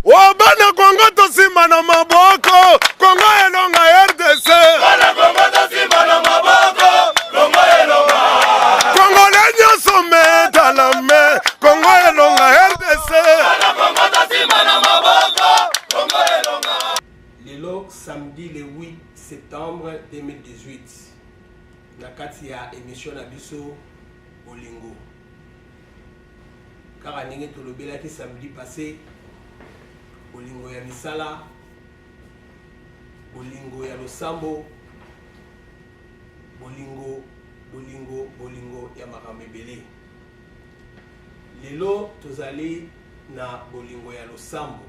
Oh bana Congo tosimba na maboko Congo elonga RDC Bana Congo tosimba na maboko Congo elonga Congo le nyoso metalame Congo elonga RDC Bana Congo tosimba na maboko Congo elonga Lelo samedi le 8 septembre 2018 na kati ya emission na biso bolingo kaka ndenge tolobelaki samedi passe bolingo ya misala bolingo ya losambo bolingo bolingo bolingo ya makambo ebele lelo tozali na bolingo ya losambo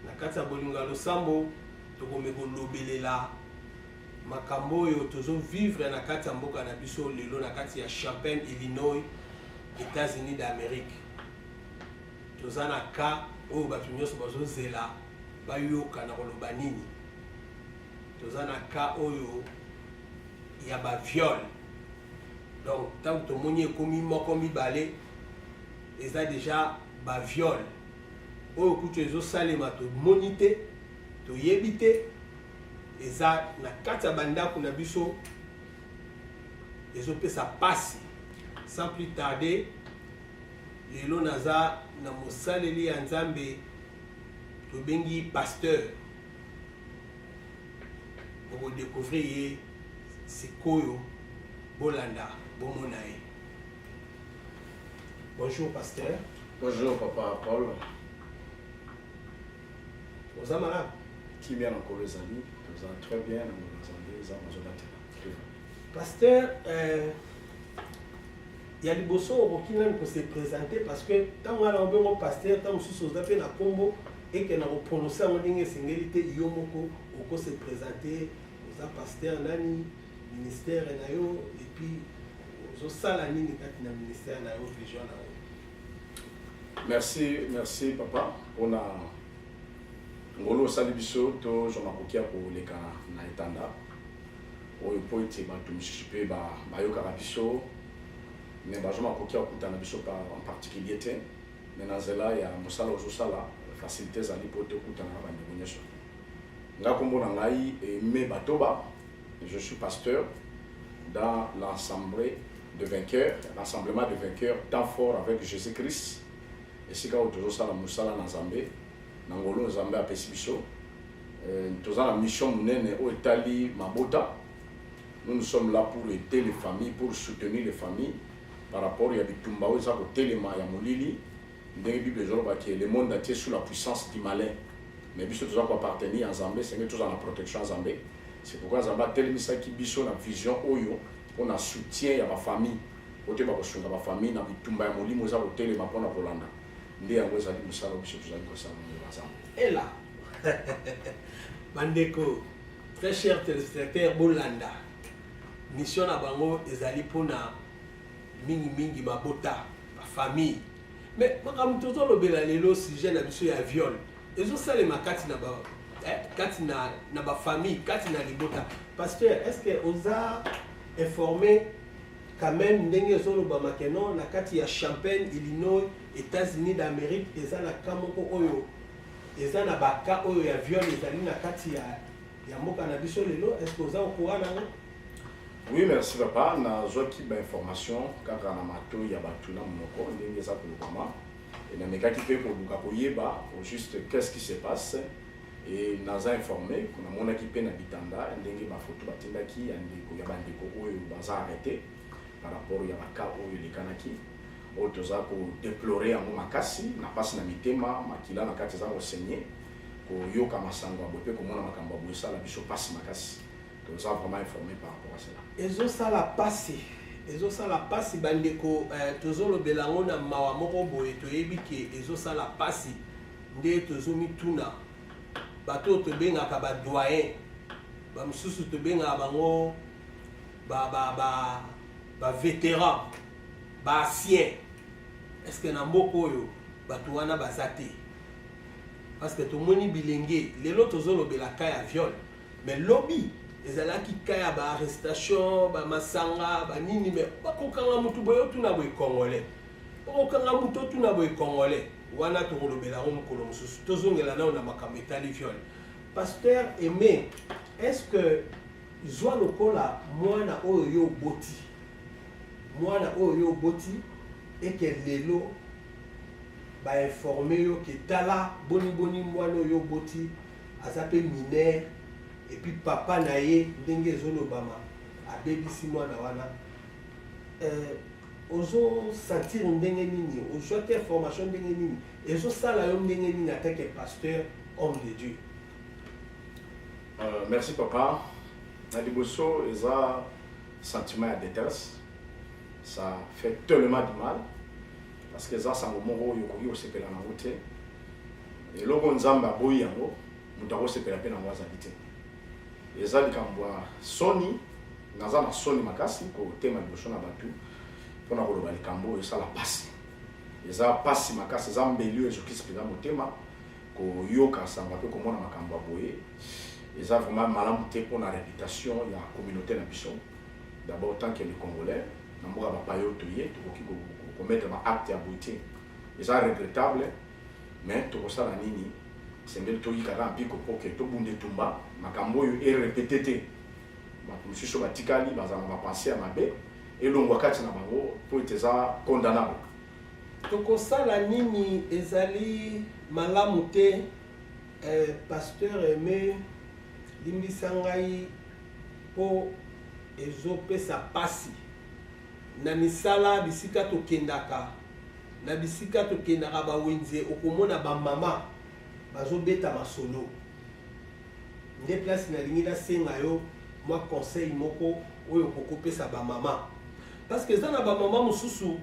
na kati ya bolingo ya losambo tokomi kolobelela Makambo oyo tozo vivre na kati ya mboka na biso lelo na kati ya Champaign, Illinois, Etats-Unis d'Amerique. Toza na cas oyo bato nyonso bazo zela bayoka na koloba nini. Toza na cas oyo ya ba viol. Donc tango tomoni ekomi moko mibale eza deja ba viol. Oyo kutu ezo salema tomoni te, toyebi te. eza na kati ya bandako na biso ezopesa pasi sans plus tarder lelo naza na mosaleli ya nzambe tobengi pasteur okodekouvrir ye sikoyo bolanda bomona ye bonjour pasteur bonjour papa paul oza malamu kimia na nkolo ezali toza très bien na mokolo nzambe eza nazobatela pasteur euh, ya liboso okoki nani kose présente parce que ntango wana obemo pasteur ntango mosusu oza mpe na nkombo eke na koprononce yango ndenge esengeli te yo moko okose présente oza pasteur nani ministère na yo epuis ozosala nini kati na ministère na yo vision na yo Merci, merci papa pona ngolu osali biso tozwa makoki ya koleka na etanda oyo mpo ete bato mosusu mpe bayokaka biso me bazwa makoki ya kokutana biso en particulier te me na nzela ya mosala ozosala facilité ezali mpo tokutana na bandeko nyonso nga nkombo na ngai eme batoba Je suis pasteur dans l'ensemble de vainqueurs, l'ensemblema de vainqueurs, temps fort avec Jésus-Christ. esika oyo tozosala mosala na nzambe na ngolo nzambe apesi biso euh, toza na mission monene oyo etali mabota nous nous sommes là pour aider les familles pour soutenir les familles par rapport ya bitumba oyo eza kotelema ya molili Ndenge Bible ezoloba que le monde entier sous la puissance du malin. Mais biso toza ko appartenir à Nzambe, senge toza na protection ya Nzambe. C'est pourquoi Nzambe atelemisaki biso na vision oyo pona soutien ya ba famille. Ote ba kosunga ba famille na bitumba ya molimo eza kotelema pona kolanda. Nde yango ezali mosala biso tozali kosala na Nzambe. Ela. Bandeko, très cher téléspectateur, bolanda. Mission na bango ezali pona mingi mingi mabota ba famille mais makambo tozolobela lelo sujet na biso ya viol ezosalema kati na ba eh, kati na na ba famille kati na libota pasteur est ce que oza informé quand même ndenge ezolobama ke non na kati ya champagne illinois états-unis d'amérique eza na cas moko oyo eza na baka oyo ya viol ezali na kati ya ya mboka na biso lelo est ce que oza okura nango oui merci papa nazwaki bainformation kaka na matoi ya bato na monoko ndenge eza kolobama e namekaki mpe koluka koyeba au juste qu'est ce qui se passe e naza informe namonaki mpe na bitanda ndenge bafoto batindaki ya ndeko ya bandeko oyo baza arrete par rapport ya baka oyo elekanaki oyo toza kodeplore yango makasi na mpasi na mitema makila na kati eza kosenye koyoka masango ya boye mpe komona makambo ya boye esala biso mpasi makasi toza vraiment informe par rapport à cela ezosala mpasi ezosala mpasi bandeko eh, tozolobela yango na mawa moko boye toyebi ke ezosala mpasi nde tozomituna bato oyo tobengaka badoyen bamosusu tobengaka bango bavétéran baancien estce na mboka oyo bato wana baza te parce que tomoni bilenge lelo tozolobela ka ya viol mais lobi ezalaki ka ya baarrestation bamasanga banini me bakokanga motu boye otuna boye congolais okokanga motu otuna boye congolais wana tokolobela yango mokolo mosusu tozongela nao na makambo etali viole pasteur aime est ce que zwa lokola mwana oyo yo oboti mwana oyo yo oboti eke lelo ba informer yo que tala boni boni mwana oyo oboti aza pe mineur et puis papa na ye ndenge ezolobama abebisi mwana wana euh, ozosentir ndenge nini ozwaki information ndenge nini ezosala yo ndenge nini atake pasteur homme de dieu euh, merci papa na liboso eza sentiment ya détresse ça fait tellement du mal parce que eza sango moko oyo okoki kosepela na yango te eloko nzambe aboyi yango moto akosepela mpe na yango azali te eza likambo ya soni naza na soni makasi kotema liboso na bato mpona koloba likambo oyo esala mpasi eza mpasi makasi eza mbeli oyo ezokisi mpenza motema koyoka sango mpe komona makambo ya boye eza vraiment malamu te mpona reputation ya communauté na biso d'abord tant que le congolais na mboka bapaya oyo toye tokoki komettre ba acte ya boye te eza regrettable mais tokosala nini esengeli toyika kaka mpiko mpo ke tobunda etumba makambo oyo erepete te bato mosusu batikali bazala na bapense ya mabe elongwa kati na bango mpo ete eza condamnable tokosala nini ezali malamu te eh, pasteur aime limbisa ngai po ezo pesa pasi na misala bisika tokendaka na bisika tokendaka ba wenze okomona ba mama bazo beta masolo nde place na lingi na senga yo mwa conseil moko oyo koko pesa ba mama parce que eza na ba mama mususu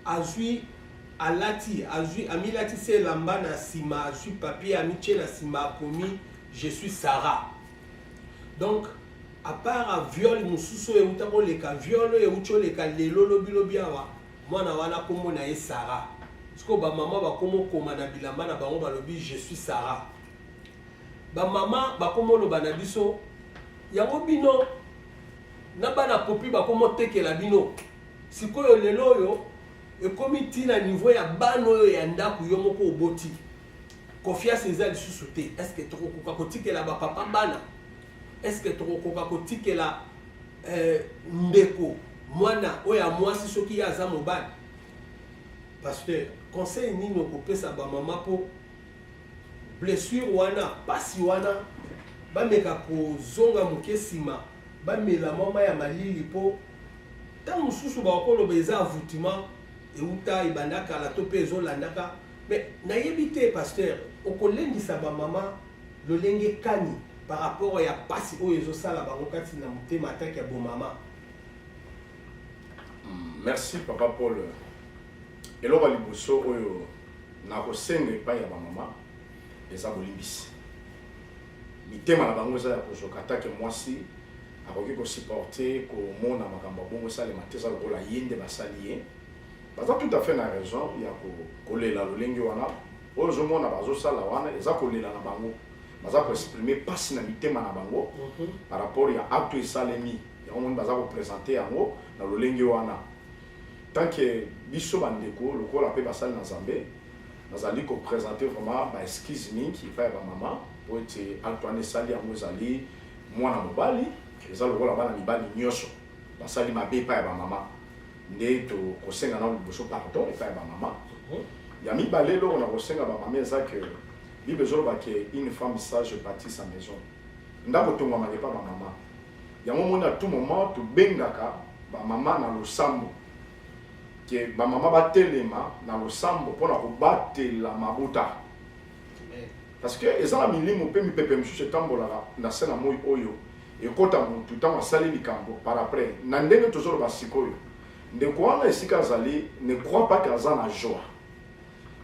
azui alati azui amilati se elamba na sima azui papier amitie na sima akomi je suis Sarah donc apara viole mosusu oyo euta koleka viole oyo euti oleka lelo lobilobi awa mwana wana nkombo na ye sara sikoyo bamama bakoma okoma na bilamba na bango balobi je suis sara bamama bakoma oloba na biso yango bino na bana popi bakoma otekela bino sikoyo lelo oyo ekomi ntina nivo ya bana oyo ya ndako yo moko oboti confiance eza lisusu te est ce que tokokoka kotikela bapapa bana est ce que tokokoka kotikela eh, ndeko mwana oyo ya mwasi soki ye aza mobali pasteur conseil nini okopesa bamama mpo blessure wana mpasi wana bameka kozonga moke nsima bamela mama ya malili mpo ntango mosusu bakoloba eza avoutement euta ebanda kala to mpe ezolandaka Mais nayebi te pasteur okolendisa ba mama lolenge kani par rapport ya pasi oyo ezosala bango kati na motema atake ya bomama. Hmm, merci papa Paul. Eloko liboso oyo nakosenga epai ya bamama eza bolimbisi. Mitema na bango eza ya kozoka atake mwasi akoki kosupporte komona makambo ya bongo esalema te eza lokola ye nde basali ye Baza tout à fait na raison ya kolela lolenge wana oyo ozomona bazosala wana eza kolela na bango baza koexprime mpasi na mitema na bango mhm. par rapport ya acte esalemi yango moni baza kopresente yango na lolenge wana tanke biso bandeko lokola mpe basali na nzambe nazali kopresente vraiment baexcuse mingi epai ya bamama mpo ete acte wana esali yango ezali mwana mobali eza lokola bana mibali nyonso basali mabe epai ya bamama nde tokosenga nao liboso pardon epai ya bamama mhm. ya mibale eloko na kosenga bamama eza ke bible ezoloba ke une femme sage bâtit sa maison ndako etongwamaka epai bamama yango omoni à tout moment tobengaka bamama na losambo ke bamama batelema na losambo mpo na kobatela mabota parce que eza na milimo mpe mipepe mosusu etambolaka na se na moi oyo ekota motu ntango asali likambo par après na ndenge tozoloba sikoyo ndeko wana esika azali ne crois pas ke aza na joie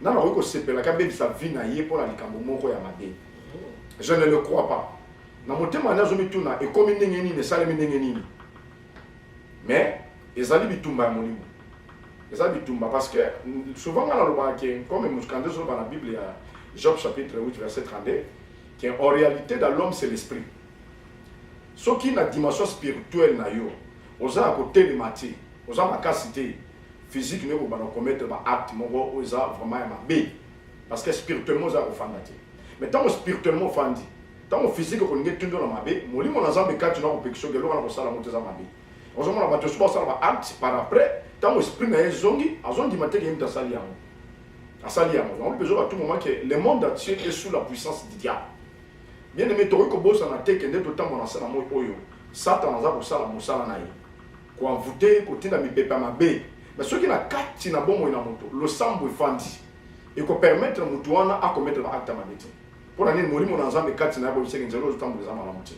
nana akoki kosepelaka abebisa vie na ye mpo na likambo moko ya mabe je ne le crois pas na motema nde azomituna ekomi ndenge nini esalemi ndenge nini mais ezali bitumba ya molimo eza bitumba parce que souvent ngai nalobaka ke comme mokanzi ezoloba na bible ya job chapitre 8 verset 32 ke en réalité dans l'homme c'est l'esprit soki na dimension spirituelle na yo oza ya kotelema te oza makasi te physique nayo kobanda komettre baacte moko oyo eza vraiment ya mabe parce que spirituellement oza ya kofanda te mais ntango spirituellement ofandi Tango physique ekolingi etundi yo na mabe, molimo na Nzambe kati na yo akopekisa yo ke eloko wana kosala yango te eza mabe. Ozomona bato esusu basala ba acte par après, tango esprit na ye ezongi, azondima te ke ye moto asali yango. Asali yango. Yango mpe ezoba tout moment ke le monde entier est sous la puissance du diable. Bien aime, tokoki kobosana te ke nde totambola na se na moi oyo, Satana aza kosala mosala na ye. Ko envoute, kotinda mipepe ya mabe. Mais soki na kati na bomoi na moto, losambo efandi, eko permettre moto wana a commettre ba acte ya mabe te. Mpo na nini Molimo na Nzambe kati na ye akoyebisaki nzela oyo ozotambola eza malamu te?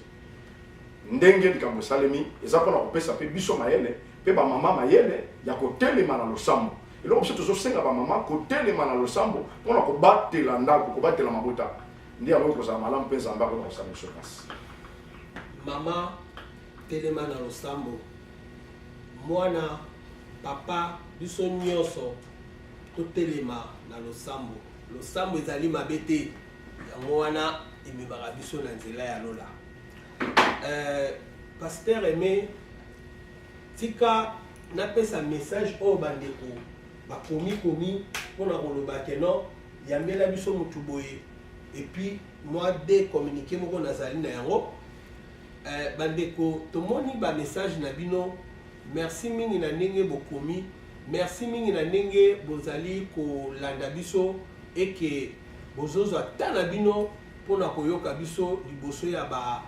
Ndenge likambo esalemi eza mpo na kopesa mpe biso mayele mpe bamama mayele ya kotelema na losambo. Eloko mosusu tozosenga bamama kotelema na losambo mpo na kobatela ndako, kobatela mabota, nde yango ekozala malamu mpe Nzambe akoki kosala biso mpasi. Mama telema na losambo, mwana, papa, biso nyonso totelema na losambo. Losambo ezali mabe te, yango wana ememaka biso na nzela ya lola. Euh, Pasteur Aimé, tika napesa message oyo bandeko bakomi komi mpo na koloba ke non yambela biso motu boye epuis mwa de communiqué moko nazali na yango Eh, bandeko tomoni ba message na bino merci mingi na ndenge bokomi merci mingi na ndenge bozali kolanda biso eke bozozwa ta na bino mpona koyoka biso liboso ya ba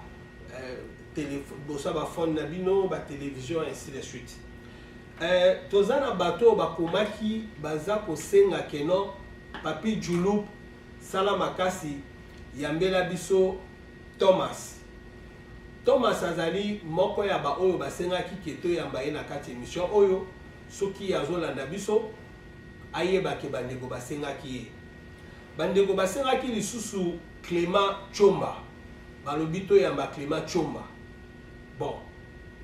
eh, liboso ya bafone na bino batelevizio ainsi de suite eh, toza na bato oyo bakomaki baza kosenga keno papi julup sala makasi yambela biso Thomas. Thomas azali moko ya ba oyo basengaki ke toyamba ye na kati emission oyo, soki azolanda biso ayeba ke bandeko basengaki ye. Bandeko basengaki lisusu Clement Tshomba, balobi toyamba Clement Tshomba. Bon,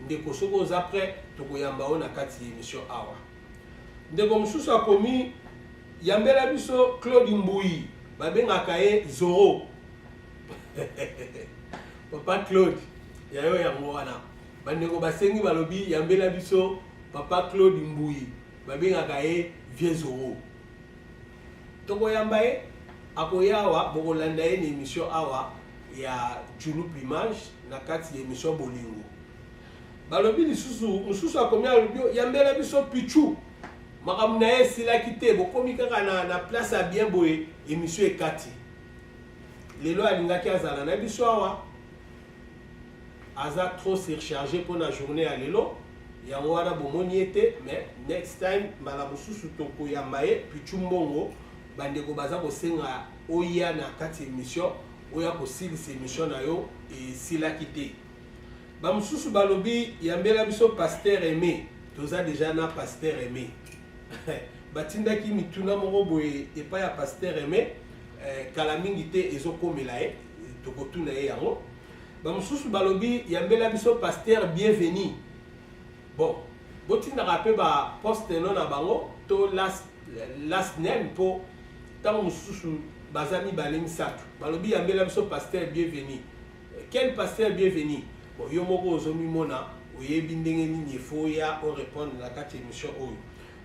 ndeko soki oza près tokoyamba yo na kati ya emission awa. Ndeko mosusu akomi yambela biso Claude Mbuyi, babengaka ye Zoro. papa claude ya yo yango wana bandeko basengi balobi yambela biso papa claude mbuyi babengaka ye vieux zoro tokoyamba ye akoya awa bokolanda ye na émission awa ya julu plumage na kati ya émission bolingo balobi lisusu mosusu akomi alobi yambela biso pichu makambo na ye esilaki te bokomi kaka na, na place ya bien boye émission ekati lelo alingaki azala na biso awa aza trop surcharge mpo na journée ya lelo yango wana bomoni ye te mais next time mbala mosusu tokoyamba ye pichu mbongo bandeko baza kosenga oya na kati émission oya kosilisa émission na yo esilaki te bamosusu balobi yambela biso paster aimé toza deja na paster aimé batindaki mituna moko boye epai ya paster aimé eh, kala mingi te ezokomela ye tokotuna ye yango bamosusu balobi yambela biso paster bienvenu bon botindaka mpe baposte no na bango to last, last name mpo ntango mosusu baza mibale misato balobi yambela biso paster bienvenu quel paster bienvenu bon yo moko ozomimona oyebi ndenge nini efo ya orepondre na kati ya émission oyo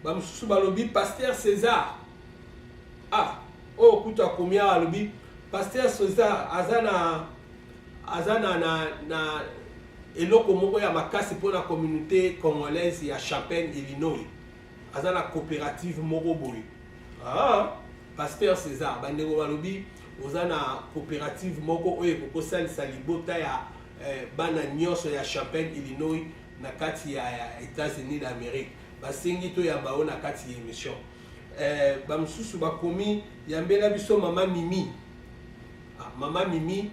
bamosusu balobi paster césar Ah, oyo oh, kutu akomi awa alobi pasteur Soza aza na aza na, na, na eloko moko ya makasi mpo na communauté congolaise ya Champagne Illinois aza na coopérative moko boye ah, pasteur César bandeko balobi oza na coopérative moko oyo ekokosalisa libota ya eh, bana nyonso ya Champagne Illinois na kati ya, ya États-Unis d'Amérique basengi toyamba yo na kati ya émission Eh, bamosusu bakomi yambela biso mama mimi ah, mama mimi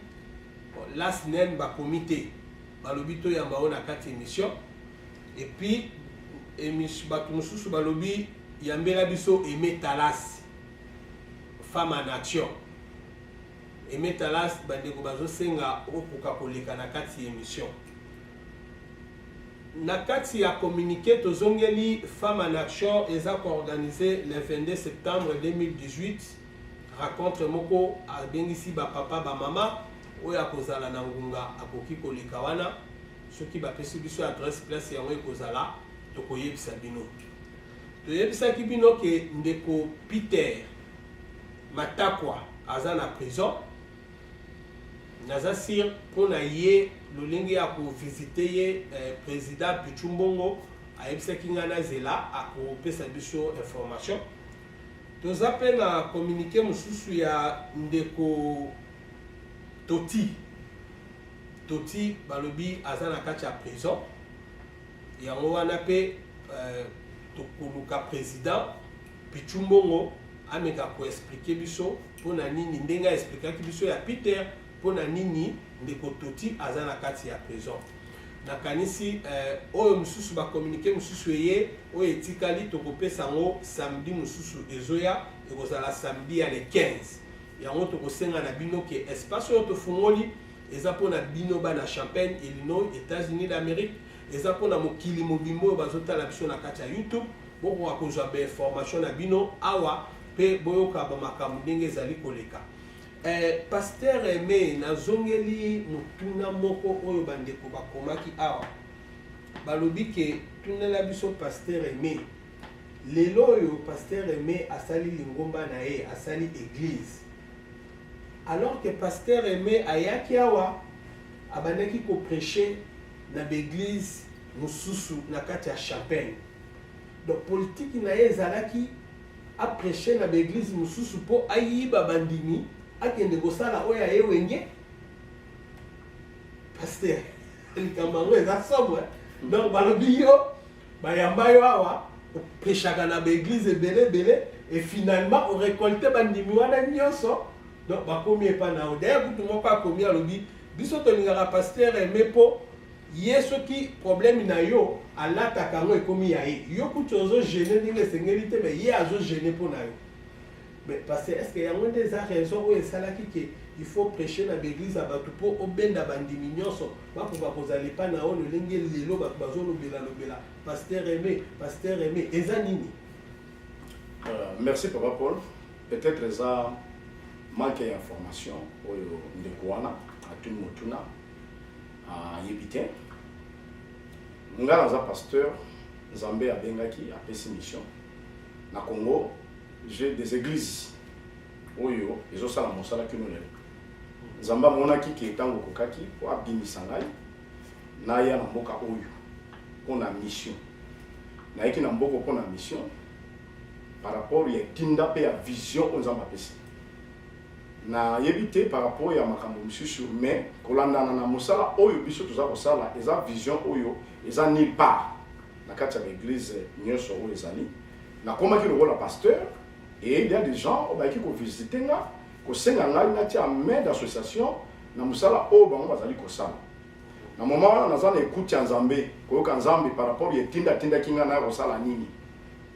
las nen bakomi te balobi toyamba oyo na kati émission epuis bato mosusu balobi yambela biso aime talas femme en action aime talas bandeko bazosenga okoka koleka na kati ya émission Na kati ya communique tozongeli Femmes en action eza ko organiser le 22 septembre 2018 racontre moko abengisi ba papa ba mama oyo akozala na ngunga akoki koleka wana soki bapesi biso adresse place yango ekozala tokoyebisa bino toyebisaki bino ke ndeko Peter Matakwa aza na prison naza sur mpo na ye lolenge ya kovisite ye eh, président pichu mbongo ayebisaki ngai nazela akopesa biso information toza mpe na communiqué mosusu ya ndeko toti toti balobi aza na kati ya prison yango wana mpe eh, tokoluka président pichu mbongo ameka koexplike biso mpo na nini ndenge aexplikaki biso ya peter mpo na nini ndeko toti aza na kati ya prison nakanisi eh, oyo mosusu bakominike mosusu eye oyo etikali tokopesa yango samedi mosusu ezoya ekozala samedi ya le 15 yango tokosenga na bino ke espace oyo tofungoli eza mpo na bino bana champagne illinois états-unis d'amérique eza mpo na mokili mobimba oyo bazotala biso na kati ya youtube bokoka kozwa bainformation na bino awa pe boyoka ba makambo ndenge ezali koleka eh, pasteur aime nazongeli motuna moko oyo bandeko bakomaki awa balobi ke tunela biso pasteur aime lelo oyo pasteur aime asali lingomba na ye asali eglise alors que pasteur aime ayaki awa abandaki kopreche na baeglise mosusu na kati ya chapelle Donc politique na ye ezalaki a precher na ba eglise mususu po ayiba bandimi akende kosala oyo aye wenge pasteur likambo yango eza somo donc balobi yo bayamba yo awa opeshaka na baeglise ebele ebele et finalement orecolte bandimi wana nyonso donc bakomi epa na yo daya kutu moko akomi alobi biso tolingaka pasteur aime mpo Ye soki problème na yo alataka yango ekomi ya ye. Yo kutu ozo gene ndenge esengeli te mais ye azo gene mpo na yo. Mais parce que est-ce que yango nde eza raison oyo esalaki que il faut prêcher na ba eglise ya batu mpo obenda bandimi nionso bakoka kozala epai na yo lolenge lelo batu bazo lobela lobela pasteur Aime pasteur Aime eza nini? Euh, merci papa Paul. Peut-être eza manque ya information oyo ndeko wana atuni motuna ayebi te ngai naza pasteur nzambe abengaki apesi mission na congo j'ai des églises oyo ezosala mosala kino lelo nzambe amonaki ke ntango okokaki mpo abimisa ngai naya na mboka oyo mpo na mission nayaki na mboko mpo na mission par rapport ya etinda mpe ya vision oyo nzambe apesi nayebi te par rapport ya makambo misusu mais kolandana na mosala oyo biso toza kosala eza vision oyo eza nulle part na kati ya baeglise nyonso oyo ezali nakomaki lokola pasteur et il y a des gens oyo bayaki kovisite nga kosenga ngai natia main d'association na mosala oyo bango bazali kosala na moma wana naza na ekuti ya nzambe koyoka nzambe par rapport ya etinda atindaki ngai naya kosala nini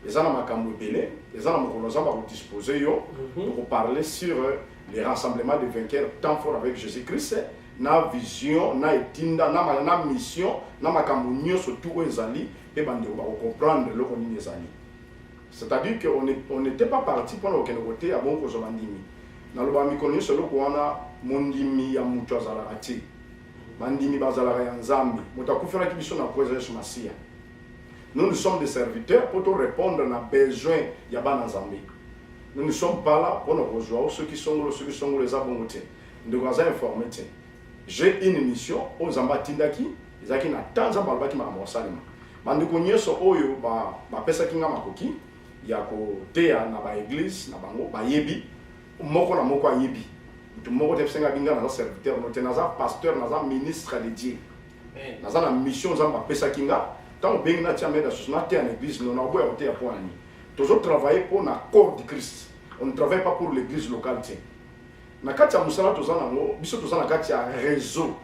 eza na makambo ebele eza na mokolo nzambe akodispose yo mhm. okoparle sur euh, le rassemblement de vainqueur temps fort avec jésus christ na vision na etinda na, na mission na makambo nyonso tu oyo ezali mpe bandeko bakocomprendre eloko nini ezali c'est-à-dire que on n'était pas parti mpona kokende koteya bongo kozwa bandimi naloba mikolo nyonso eloko wana mondimi ya moto azalaka te bandimi bazalaka ya nzambe moto akufelaki biso na mpo eza yesu masiya Nous nous sommes des serviteurs pour tout répondre na besoin ya bana Nzambe. Nous ne sommes pas là pour nous rejoindre ceux qui sont ceux qui sont les abongotés. Nous devons informer. J'ai une mission aux Nzamba Tindaki, ezaki na tanza balbaki ma mosalima. Bandeko nyeso oyo ba ba pesa kinga makoki ya ko teya na ba église na bango ba yebi moko na moko ayebi. Mutu moko te senga binga na serviteur, no te na pasteur, na ministre de Dieu. naza na mission nzambe apesaki nga ntango obengi natia meda susu nateya na église no nakoboya koteya mpo na nini tozo travaille mpo na corps du christ on ne travaille pas pour l'église locale te na kati ya mosala toza nango biso toza na kati ya réseau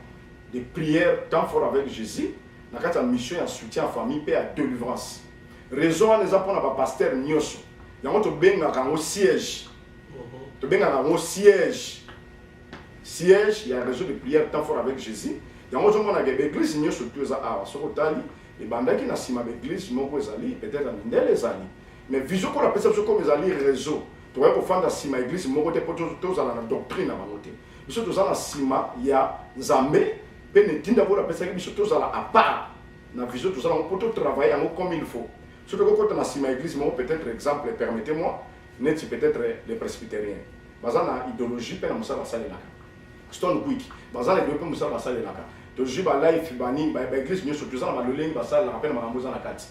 de prière temps fort avec jésus na kati ya mission ya soutien ya famille mpe ya délivrance réseau wana eza mpo na bapaster nyonso yango tobengaka yango siège tobengaka yango siège siège ya réseau de prière temps fort avec jésus yango ozomonaka baeglise nyonso tu eza awa soki otali ebandaki na nsima baeglise moko ezali peut-être na mindele ezali mais vision kola apesa biso comme ezali réseau tokoki kofanda nsima eglise moko te mpo tozala na doctrine na bango te biso toza na nsima ya nzambe mpe na etinda kola apesaki biso tozala apart na vision toza nango mpo totravaille yango comme il faut soki tokokota na nsima ya eglise moko peut-être exemple permettez moi neti peut-etre les presbyteriens baza na ideologie mpe na mosala basalelaka stone quick baza na ideologie mpe mosala basalelaka tozwi balife banini baeglise nyonso toza na balolenge basalelaka mpe na makambo eza na kati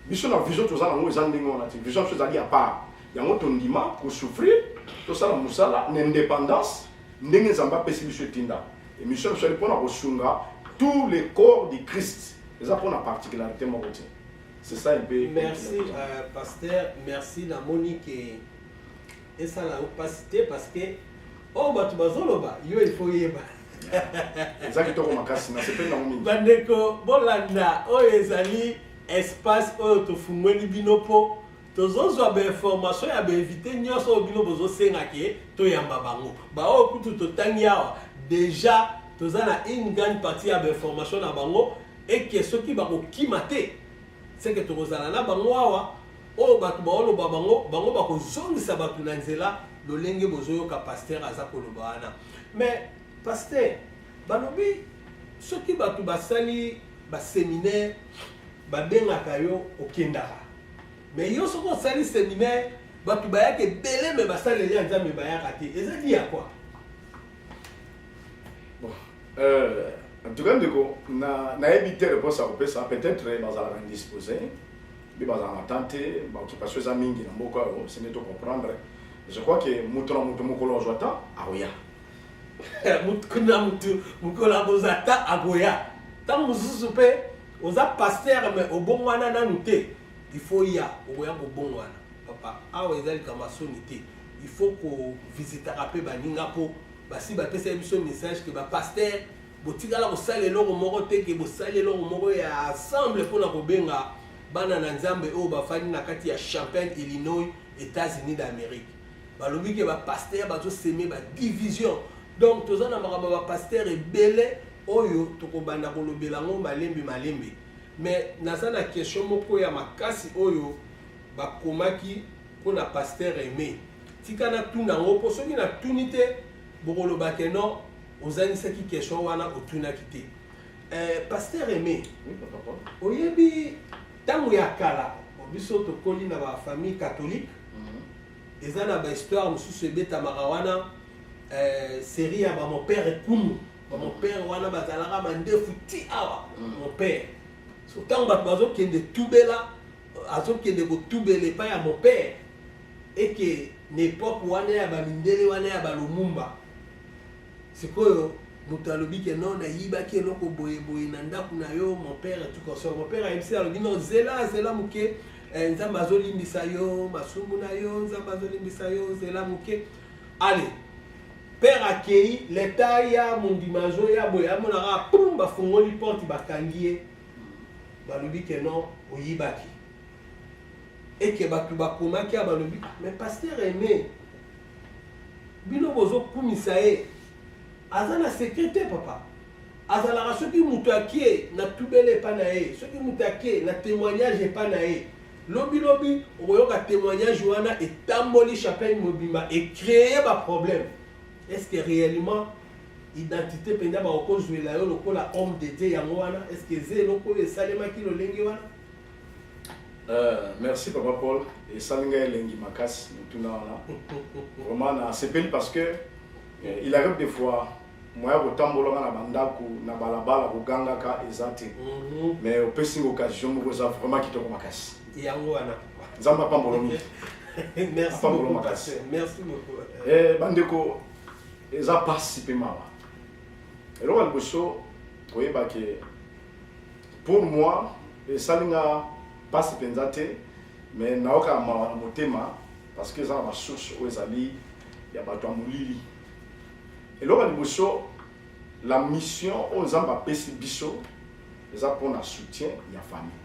biso na vision toza nango eza ndenge wana te vision biso ezali ya part yango tondima kosouffrir tosala mosala na indépendance ndenge nzambe apesi biso etinda émission biso ali mpo na kosunga tous les corps du christ eza mpo na particularité moko te C'est ça un peu. Merci euh, pasteur, merci na moni ke esala yo pasi te parce que oyo oh, bato bazoloba yo il faut yeba eza kitoko makasi nasepeli nango mingi bandeko bolanda oyo ezali espace oyo tofungweli bino mpo tozozwa bainformation ya bainvite nyonso oyo bino bozosenga ke toyamba bango baoyo kutu totangi awa deja toza na une grande partie ya bainformation na bango et que soki bakokima te seke tokozala na bango awa oyo bato baoloba bango bango bakozongisa bato na nzela lolenge bozoyoka pasteur aza koloba wana mais pasteur balobi soki bato basali baseminaire babengaka yo okendaka mais yo soki osali seminaire bato bayaka ebele me basaleli ya nzambe bayaka te eza dia kua Bon, euh, en tout cas ndeko na nayebi te reponse ya kopesa peut-être bazalaka indisposé mpe bazala na temps te baoccupation eza mingi na mboka oyo sende to comprendre je crois que moto na moto mokolo azwa temps akoya moto na moto mokolo akozwa temps akoya ntango mosusu mpe oza paster me obongwana nanu te il faut ya okoya kobongwana papa awa eza likambo ya soni te il faut kovisitaka mpe baninga mpo Basi bapesaki biso message ke ba pasteur botikala kosala eloko moko te ke bosali eloko moko ya ensemble mpo na kobenga bana na nzambe oyo bafandi na kati ya champagne illinois états-unis d'amérique balobi ke bapaster bazoseme badivision donc toza na makambo ya bapaster ebele oyo tokobanda kolobela yango malembe malembe mais naza na question moko ya makasi oyo bakomaki mpo na paster aime Tika na tuna yango mpo soki na tuni te bokoloba ke non ozangisaki question wana otunaki te. Eh, Pasteur Aimé, oyebi ntango ya kala biso tokoli na bafamille catholique mhm. eza na bahistoire mosusu ebetamaka wana eh, serie ya bamopere kumu bamopere mhm. wana bazalaka mandefu ti awa mopere mhm. so ntango bato bazokende tubela azokende kotubela epai ya mopere eke na epoke wana ya bamindele wana ya balumumba sikoyo moto alobi ke non nayibaki eloko boyeboye na ndako na yo mopere tukosor mopere ayebisi alobi non zela zela moke eh, nzambe azolimbisa yo masumu na yo nzambe azolimbisa yo zela moke ale pere akei leta ya mondima azoya boye amonaka pum bafungoli porte bakangi ye balobi ke non oyibaki eke bato bakomaki ya balobi ah, mais paster aime bino bozokumisa ye aza na secret te papa azalaka soki moto ake na tubele epai na ye soki moto ake na témoignage epai na ye lobilobi okoyoka témoignage wana etamboli chapelle mobimba ecreye baproblème Est ce que réellement identité mpenza bakokozwela yo lokola homme de dieu yango wana est ce que eza eloko oyo esalemaki lolenge wana Euh, merci papa paul esali ngai elengi makasi motuna wana vraiment nasepeli parce que eh, il arrive des fois moya kotambolaka na bandako na balabala kogangaka eza te mhm. mais opesi nga occasion moko eza vraiment kitoko makasi yango wana nzambe apambolo mingi apambolo makasi eh, bandeko eza mpasi mpe mawa eloko ya liboso koyeba ke pour moi esali nga mpasi mpenza te mais nayoka mawa na motema parce que eza na basource oyo ezali ya bato ya molili eloko ya liboso la mission oyo nzambe apesi biso eza pona soutien ya famille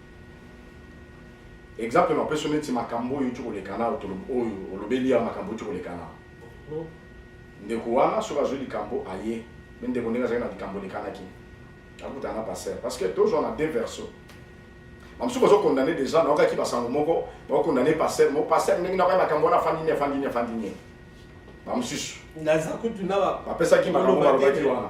exemple napesi yo neti makambo oyo euti koleka na oyo olobeli ya makambo euti koleka na mhm. ndeko wana soki azwi likambo aye me ndeko ndenge azali na likambo elekanaki akutana na passer parce que tozwa na deux verso bamosusu bazokondane déjà naokaki basango moko bakokondane passer mo passer ndenge nakoya makambo wana afandi nini afandi nini afandi nini bamosusu bapesaki makambo balobaki wana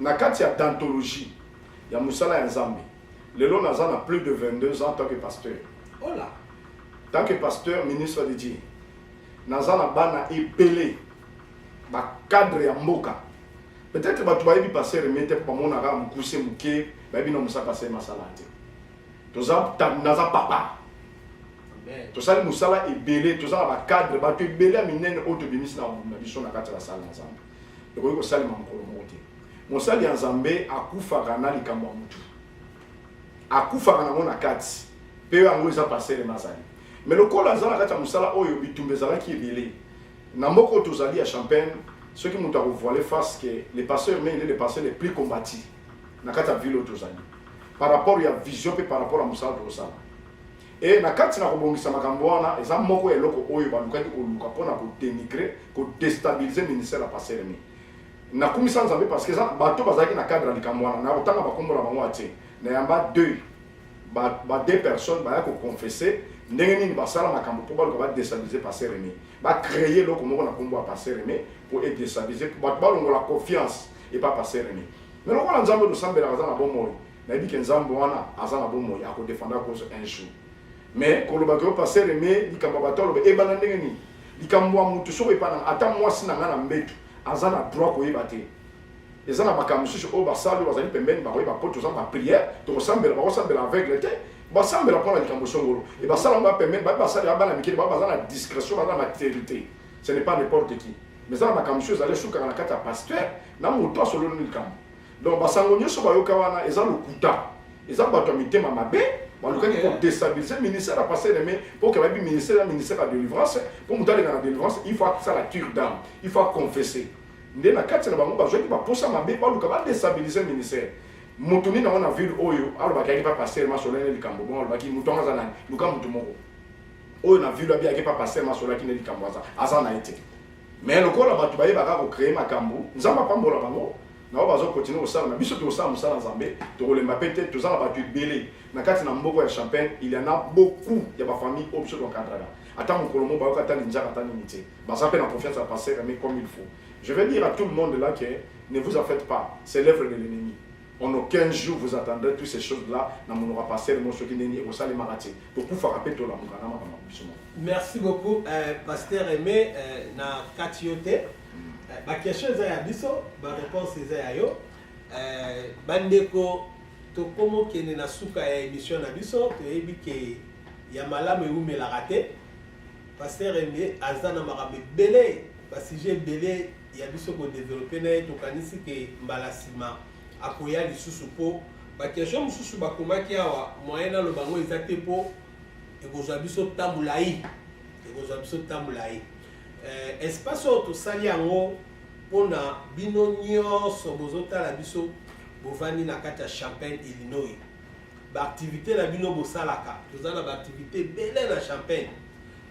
Na kati ya dentologie ya mosala ya Nzambe, lelo naza na plus de 22 ans tant que pasteur. Hola! Tant que pasteur, ministre de Dieu, naza na bana ebele ba cadre ya mboka. Peut-être bato bayebi pasteur Aimé te mpo bamonaka mokuse moke, bayebi na mosala pasteur masala te. Toza naza papa. tosali mosala ebele toza na bacadre bato ebele ya minene oyo tobimisi na biso na kati ya basala na nzambe ekoki kosalema mokolo moko te mosali ya nzambe akufaka na likambo ya motu akufaka nango na kati mpe yango eza parcele mazali me lokola aza na kati ya mosala oyo bitumba ezalaki ebele na mboka oyo tozali ya champagne soki moto akovoile face ke le pasteur me ele le pasteur le plus combati na kati ya ville oyo tozali par rapport ya vision mpe par rapport ya mosala tokosala E na kati na kobongisa makambo wana, eza moko ya eloko oyo balukaki koluka mpo na kodenigre, kodestabilize ministère ya Pasteur Remy. Nakumisa Nzambe parce que eza bato bazalaki na cadre ya likambo wana, na kotanga bakombo na bango atie na yamba deuil ba, ba deux personnes baya koconfesse ndenge nini basala makambo mpo baluka badestabilize pasteur aimé bacreye eloko moko na nkombo ya pasteur aimé mpo edestabilize bato balongola confiance epa pasteur aimé me lokola nzambe tosambelaka aza na bomoi Nayebi ke Nzambe wana aza na bomoi ako defendre cause un jour. Mais koloba ke pasteur Aime likambo bato aloba ebana ndenge nini? Likambo ya mutu soko epana ata mwasi na nga na mbetu aza na droit koyeba te. Eza na makambo mosusu oyo basali oyo bazali pembeni bakoyeba mpo toza ba prière tokosambela bakosambela aveugle te basambela mpo na likambo songolo e basala yango bapembeni baye basali ya bana mikili baye baza na discrétion baza na maturité ce n'est pas n'importe qui mais eza na makambo mosusu ezali esukaka na kati ya pasteur na moto asololi likambo Donc basango nyoso bayoka wana eza lokuta. Eza bato ya mitema mabe balukaki okay. kodestabilise ministère ya pasteur aime mpo ke bayebi ministère ya ministère ya délivrance mpo moto aleka na délivrance il faut asala cure dame il faut aconfesse nde na kati na bango bazwaki baposa mabe baluka badestabilise ministère moto nini yango na ville oyo alobaki ayaki pa pasteur masolani likambo bongo alobaki moto yango aza nani luka moto moko oyo na ville abi ayaki pa pasteur masolaki nde likambo aza aza na ye te mais lokola bato bayebaka kocreye makambo nzambe apambola bango na oyo bazo continue kosala na biso tokosala mosala ya nzambe tokolemba mpe te toza na bato ebele na kati na mboko ya champagne il y en a beaucoup ya bafamille oyo biso toencadraka ata mokolo moko bayoka ata linjaka ata nini te baza mpe na confiance ya passer mais comme il faut je vais dire à tout le monde là que ne vous en faites pas c'est l'œuvre de l'ennemi en aucun jour vous attendrez toutes ces choses là na monoko ya passer mo soki nini ekosalemaka te tokufaka mpe tolamuka na makambo biso moko merci beaucoup euh, pasteur aimé euh, na kati yo te ba question eza ya biso ba réponse eza ya yo euh, bandeko tokomokende na suka ya émission na biso toyebi ke ya malamu ewumelaka te paster eme aza na makambo ebele basujet ebele ya biso kodevelope na ye tokanisi ke mbala nsima akoya lisusu mpo bakestion mosusu bakomaki awa moyen naloba yango eza te mpo ekozwa biso ntango molai ekozwa biso ntango molai Eh, espace oyo tosali yango mpo na bino nyonso bozotala biso bovandi na kati ya champagne illinois baaktivité na bino bosalaka toza na baaktivité ebele na champagne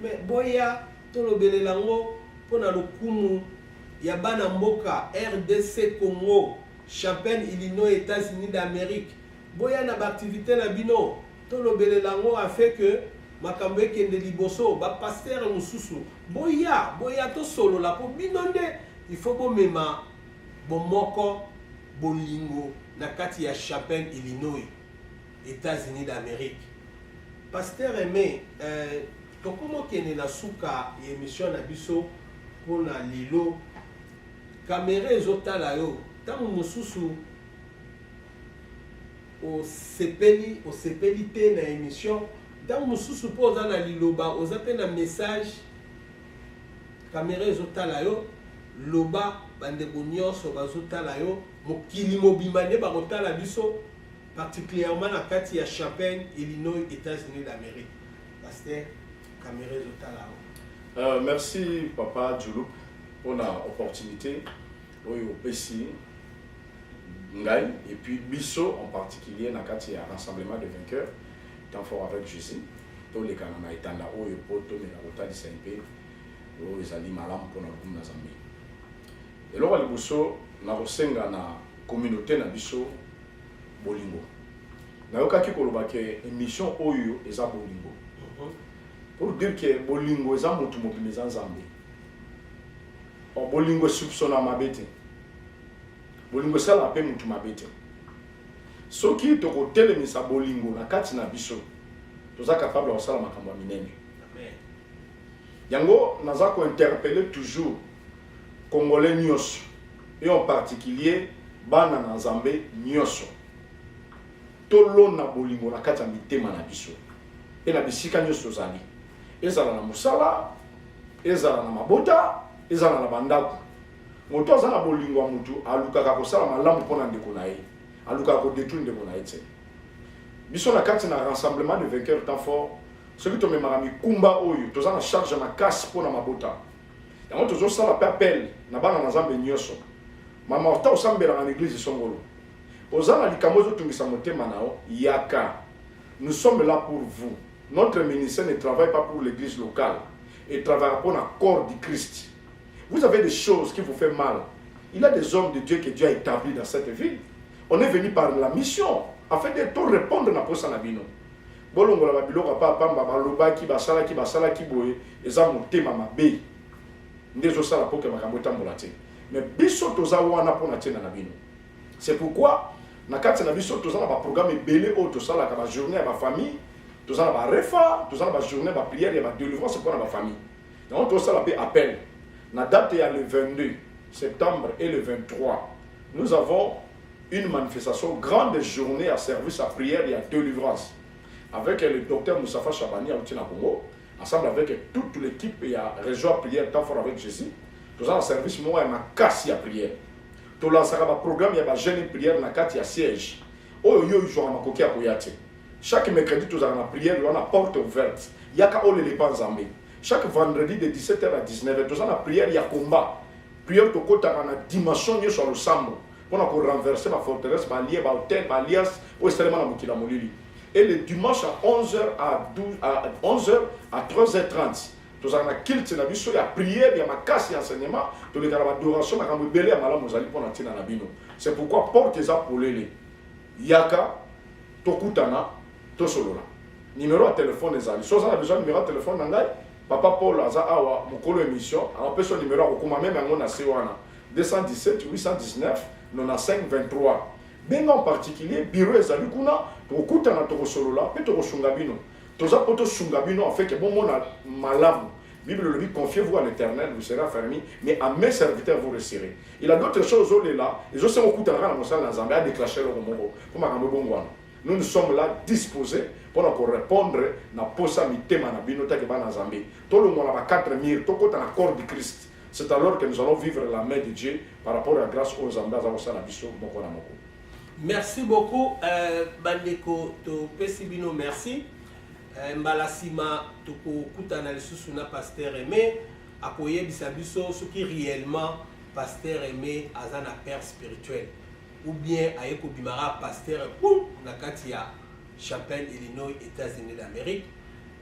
me boya tolobelela yango mpo na lokumu ya bana mboka rdc congo champagne illinois états-unis d'amérique boya na baaktivité na bino Tolobelela yango afin que makambo ekende liboso. Ba pasteurs mosusu boya, boya tosolola mpo bino nde il faut bomema bomoko, bolingo na kati ya Chapin, Illinois, Etats-Unis d'Amerique. Pasteur Aime, euh, tokomi okende na suka ya emission na biso mpo na lelo. Kamera ezotala yo ntango mosusu Osepeli osepeli te na emission ntango mosusu mpo oza na liloba oza mpe na message kamera ezotala yo loba bandeko nyonso bazotala yo mokili mobimba nde bakotala biso particulièrement na kati ya champagne illinois états-unis d'amérique paster kamera ezotala yo euh, merci papa julup mpona opportunité oyo opesi ngai et puis biso en particulier na kati ya rassemblement de vainqueur temps fort avec jésus tolekana na etanda oyo mpo tomeka kotalisa mpe oyo ezali malamu mpona lokumu na zambe eloko ya liboso na kosenga na communauté na biso bolingo nayokaki koloba ke émission oyo eza bolingo mhm. pour dire ke bolingo eza motu mobima eza nzambe Bon, bolingo esoupçonna mabe te bolingo esalaka mpe motu mabe te soki tokotelemisa bolingo na kati na biso toza capable ya kosala makambo ya minene yango naza kointerpele toujours congolais nyonso et en particulier bana na nzambe nyonso tolona bolingo na kati ya mitema na biso mpe na bisika nyonso tozali ezala na mosala ezala na mabota ezala na bandako moto aza na bolingo ya motu alukaka kosala malamu mpo na ndeko na ye alukaka kodetruire ndeko na ye te biso na kati na rassemblement de vainqueur temps fort soki tomemaka mikumba oyo toza na charge makasi mpo na mabota yango tozosala mpe appel na bana na nzambe nyonso mama ota osambelaka na eglize songolo oza na likambo ezotungisa motema na yo yaka Nous sommes là pour vous. Notre ministère ne travaille pas pour l'église locale et travaillera pour le corps du Christ. Vous avez des choses qui vous font mal. Il y a des hommes de Dieu que Dieu a établis dans cette ville. On est venu par la mission afin de tout répondre à posa na bino. bolongola babiloko pa pamba balobaki basalaki basalaki boye eza motema mabe nde ezosala mpo ke makambo etambola te me biso toza wana mpo na ntina na bino C'est pourquoi na kati na biso toza na ba programme ebele oyo tosalaka ba journée ya ba famille toza na ba refa toza na ba journée ya ba prière ya ba délivrance mpo na ba famille yango tosala mpe appel na date ya le 22 septembre et le 23 nous avons une manifestation grande journée ya service ya prière ya délivrance avec le docteur Moussafa Chabani auti na Congo ensemble avec toute l'équipe ya réseau ya prière temps fort avec Jésus toza na service moko ya makasi ya prière Tolansaka ba programme ya ba jeune prière na kati ya siège. Oyo yo ozwaka makoki ya koya te. Chaque mercredi tozalaka na prière wana porte ouverte. Yaka olele epa Nzambe. Chaque vendredi de 17h à 19h toza na prière ya combat. Prière tokotaka na dimension nyonso ya losambo mpona ko renverser ba forteresse ba lie ba hotel ba alliance oyo esalema na mokili ya molili. Et le dimanche à 11h à 12 à 11h à 13h30 tozala na kilte na biso ya priere ya makasi ya enseignement toleka na badoration makambo ebele ya malamu ezali mpo na ntina na bino c'est pourquoi porte eza polele yaka tokutana tosolola nimero ya telefone ezali so oza na besoin nimero ya telefone na ngai papa paul aza awa mokolo émission anapesa nimero ya kokoma meme yango na se wana 217 819 95 23 benga en particulier biro ezali kuna tokokutana tokosolola mpe tokosunga bino toza mpo tosunga bino en fait que bomona malamu bible olobi confiez vous à l'éternel vous serez affermi mais à mes serviteurs vous resserez il a d'autres choses olela ezosenga okutanaka na mosala na nzambe adeclache eloko moko mpo makambo ebongwana nous nous sommes là disposés mpo na korépondre na posa mitema na bino take bana nzambe tolongwa na ba 4 mire tokota na corps du christ c'est alors que nous allons vivre la main de dieu par rapport ya grâce oyo nzambe aza kosala biso moko na moko Merci beaucoup euh, bandeko topesi bino merci euh, mbala nsima tokokutana lisusu na pasteur aime akoyebisa biso soki réellement pasteur aime aza na père spirituel ou bien aye kobimaka pasteur boum na kati ya chapelle illinois états-unis d'amérique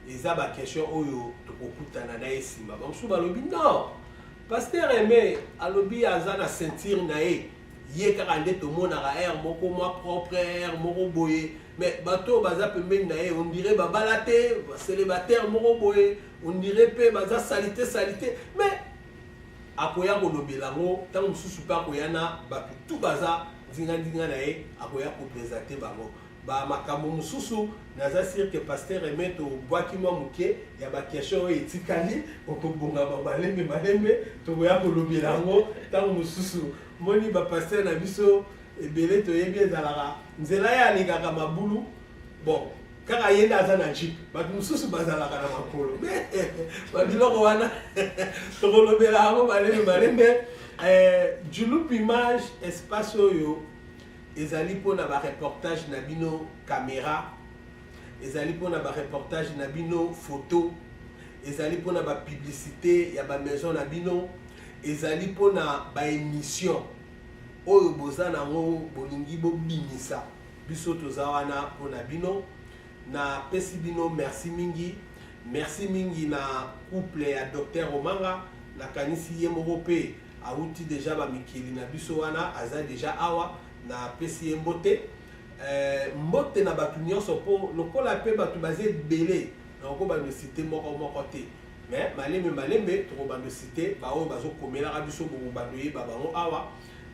eza baquestion oyo tokokutana na ye nsima bamosusu balobi non pasteur aime alobi aza na ceinture na ye ye kaka nde tomonaka aire moko mwa propre aire moko boye mais bato oyo baza pembeni na ye ondire babala te célibataire moko boye ondire mpe baza salite salite mais akoya kolobela yango ntango mosusu mpe akoya na bato tu baza nzinganzinga na ye akoya kopresente bango ba makambo mosusu naza sire ke pasteur eme tobwaki mwa moke ya baquestion oyo etikali okobongama malembe malembe tokoya kolobela yango ntango mosusu moni bapasteur na biso ebele toyebi ezalaka nzela ye alingaka mabulu bon kaka ye nde aza na jipe bato mosusu bazalaka na makolo babiloko wana tokolobela yango malembe malembe eh, julup image espace oyo ezali mpo na ba reportage na bino camera ezali mpo na ba reportage na bino photo ezali mpo na ba publicité ya ba maison na bino ezali mpo na ba émission oyo boza na yango bolingi bobimisa biso toza wana mpo na bino napesi bino merci mingi merci mingi na couple ya docteur omanga nakanisi ye moko mpe Awuti dejà ba mikili na biso wana aza dejà awa na pesi ye mbote eh, mbote na batu nionso po lokola pe batu baza ebele na okobando site moko moko te mais malembe malembe tokobando site baoyo bazokomelaka biso bokobando yeba bango awa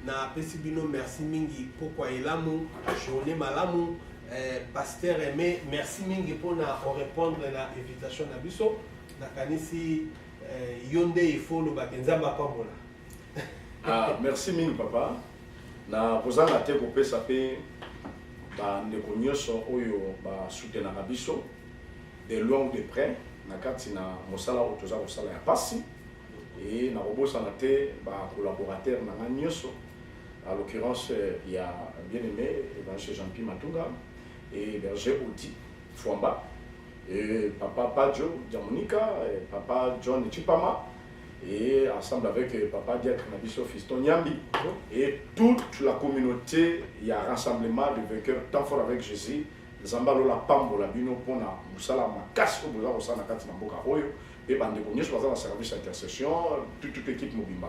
na pesi bino merci mingi pokwa elamu journée malamu eh, pasteur aime merci mingi pona orepondre na invitation na biso nakanisi Eh, yo nde il faut oloba te nzambe apambola ah, merci mingi papa na kozanga te kopesa mpe bandeko nyonso oyo basutenaka biso de loin ou de près na kati na mosala oyo toza kosala ya mpasi e nakobosana te bacollaborateur na ngai nyonso à l'occurrence ya bien aimé évangile jean pi matunga e berger audi fwamba et papa Padjo Diamonica, et papa John Chipama, et ensemble avec euh, papa Diacre Nabiso Fiston Nyambi, et toute la communauté, il y a rassemblement de vainqueurs, temps fort avec Jésus, nzambe la pambo la bino mpona mosala makasi oyo boza kosala na kati na mboka oyo mpe bandeko nyonso baza na service ya intercession toute équipe mobimba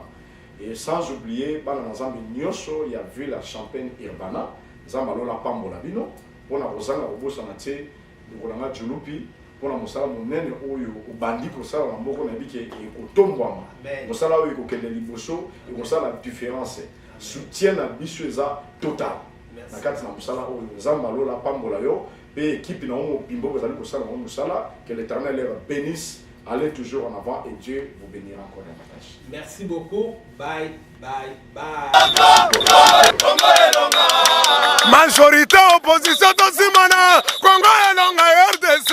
et sans oublier bana na nzambe il y a villa champagne urbana nzambe la pambo la bino mpona kozanga kobosana te Ndeko na ngai Chulupi, mpo na mosala monene oyo obandi kosala na moko nayebi ke ekotombwama mosala oyo ekokende liboso ekosala différence soutien na biso eza total na kati na mosala oyo nzambe alola apambola yo mpe ekipe na yo mobimba oyo bazali kosala yango mosala que l'éternel leur bénisse allez toujours en avant et dieu vous bénira encore davantage merci beaucoup bye majorité opposition tosimana kongo elonga rdc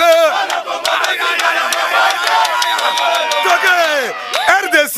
toke rdc